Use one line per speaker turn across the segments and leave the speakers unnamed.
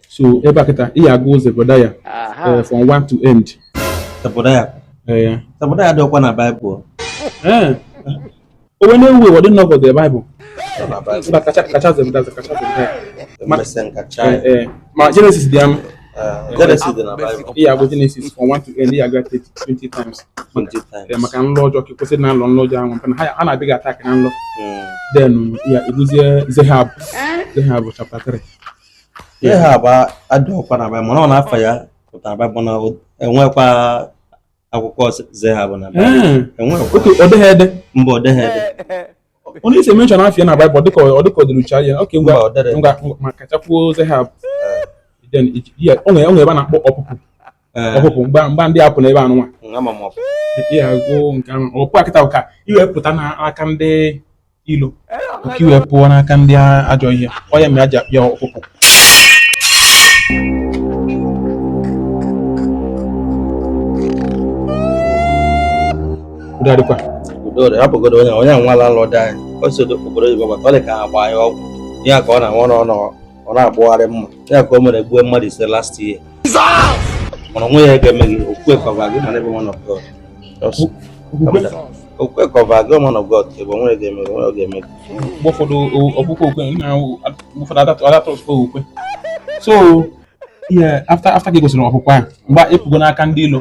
so ebe a kịta ị ga-agụ ụzọ Zebedaya eh, from one to end Zebedaya eh, Zebedaya dịkwa na Baịbụl eh. o nwe na-ewu ewu dị nnọọ the Bible kacha kacha Zebedaya kacha Zebedaya ma Genesis dị ama ị ya-agụ Genesis from 1 to end ya ga 20 times maka nlọ ọjọọ ka kwesịrị na nlọ nlọ ọjọọ ahụ maka na ha na-adịghị attack na nlọ then ya ebuzie Zehab Zehab chapter 3 Zehab adịghịkwa na Baịbụl mana afa ya pụtara Baịbụl na enwekwa akwụkwọ Zehab na Baịbụl enwekwa ọ dịghị ede mba ọ dịghị ede onye isi mention afa ya na baịbụl dịka ọ dịka ọ dịrị uche anya oke ngwa Mba, ọ dịrị. ngwa ngwa- ma kachakwuo zehab then iji- ya- o nwere o nwere ebe a na-akpọ ọpụpụ Ee, ọpụpụ mgba mgba ndị apụ na ebe anụnwa ama m ọpụ. ị ya-agụ nke ahụ ọpụ a kịta bụ ka i wee pụta n'aka ndị ilo ka i wee pụọ n'aka ndị ajọ ihe ọ ya mere e ji akpọ ya ọpụpụ hapụgodo onye onye nwa landlord anyị o si obodo oyibo maka ọ dị ka ha gbaa ya ọgwụ ya ka ọ na-aṅụ n'ọnụ ọ na-ebugharị mma ya ka o mere gbuo mmadụ ise last year mana o nwe ihe ga-eme gị okwukwe cover gị na ebe man of God okwukwe cover gị man of God ebe o nwe ihe ga-eme o nwe ihe ga-eme mgbe ụfọdụ ọkpụkpọ okwe na ụfọdụ adatọ ọkpụkpọ okwe so ihe after after ka ị gụsịrị ọpụpụ ahụ mgbe ị pụgo n'aka ndị ilo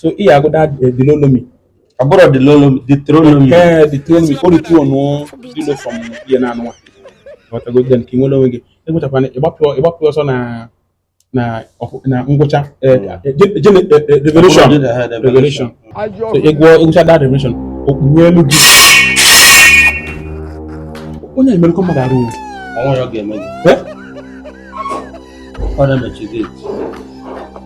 so ị agụda dilolomi ọ bụrụ dilolomi ditrolomi ee ditrolomi o ritu ọnụ dilo fọm ihe na anụwa ọtago then ka ị nwere onwe gị ị gụchakwana ị gbapụ ọsọ na na na ngwụcha revolution revolution so ị gụọ ị gụcha the revolution okpukpe elu gị onye emerụkọ mmadụ arụ ọnwa ya ọ ga-eme gị ọ na-emechi gate